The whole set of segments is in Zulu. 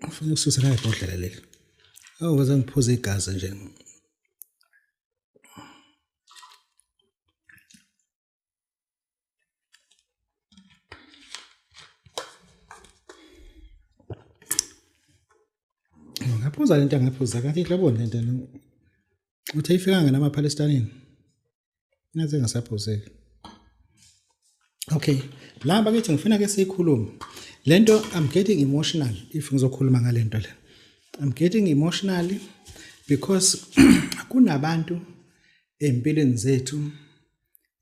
Ufuna ukususa naye ibhodlela leli. Awu baze ngiphuze igazi nje. Ngaphuza lento ngaphuza kanti inhlobo lento uthi ayifikanga namaphalestanini. ngaze ngasaphuzeka okay la bakithi ngifuna ke siyikhulume lento i'm getting emotional if ngizokhuluma ngalento le i'm getting emotional because kunabantu empilweni zethu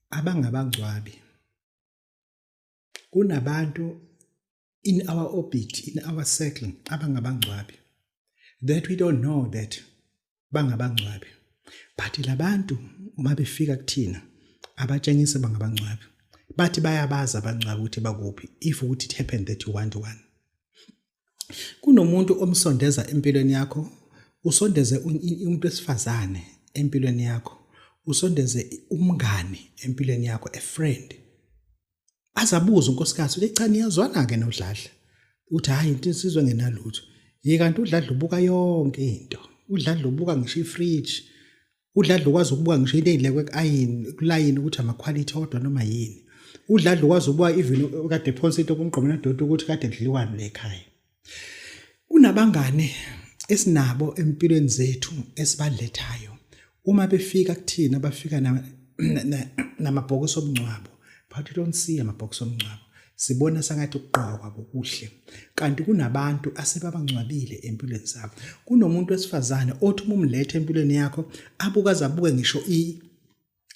abangabangcwabi kunabantu in our orbit in our circle abangabangcwabi that we don't know that bangabangcwabi but labantu uma befika kuthina abatshengise bangabangcwabi bathi bayabaza abangcwabi ukuthi bakuphi if ukuthi it happened that you want one kunomuntu omsondeza empilweni yakho usondeze umuntu wesifazane empilweni yakho usondeze umngani empilweni yakho a friend azabuza unkosikazi ukuthi cha niyazwana ke nodladla uthi hayi into insizwe ngenalutho ye kanti udladla ubuka yonke into udladla ubuka ngisho ifridge udladla ukwazi ukubuka ngisho into eyilekwe kuayini kulayini ukuthi amaquality odwa noma yini udladla ukwazi ukubuka even kade phonsa into kumgqomela doti ukuthi kade kudliwani lekhaya Kunabangane esinabo empilweni zethu esibalethayo uma befika kuthina bafika namabhokisi obungcwabo but don't see amabhokisi omngcwabo sibona sangathi ukugqokwa kokuhle kanti kunabantu asebabangcwabile empilweni zabo kunomuntu wesifazane othi uma umlethe empilweni yakho abukaze abuke ngisho i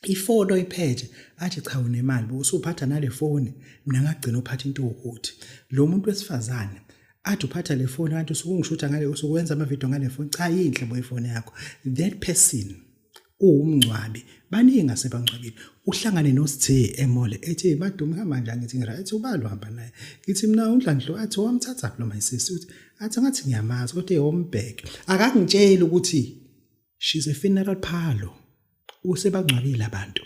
ifoni oyiphethe athi cha unemali usuphatha nale foni mina ngagcina uphatha into ukuthi lo muntu wesifazane athi uphatha le foni kanti usukungishutha ngale usukwenza amavidiyo ngale foni cha yinhle bo ifoni yakho that person uwumngcwabi baningi asebangcwabile uhlangane nosithe emole ethi madume hamba njani ngithi ngira ethi ubalo hamba naye ngithi mina undlandlo athi wamthatha kulo my sister uthi athi ngathi ngiyamazi kodwa eyombheke akangitsheli ukuthi she's a funeral parlor usebangcwabile abantu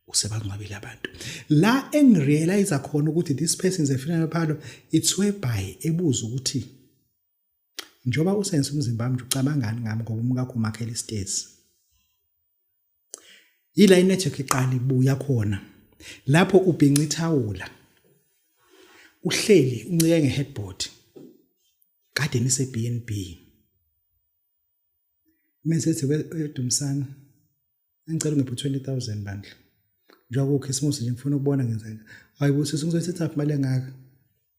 usebangcwabile abantu la engirealize khona ukuthi this person is a funeral parlor it's whereby ebuza ukuthi njoba usense umzimba wami ucabangani ngami ngoba umkakho umakhela isitezi yila inetwork iqala ibuya khona lapho ubhinca ithawula uhleli uncike ngeheadboard kade nise BNB Mesethi weDumsana engicela ngiphe 20000 bandla. Njengoba uKhisimusi nje ngifuna ukubona ngenzeka. Hayibo sisi ngizothatha imali engaka.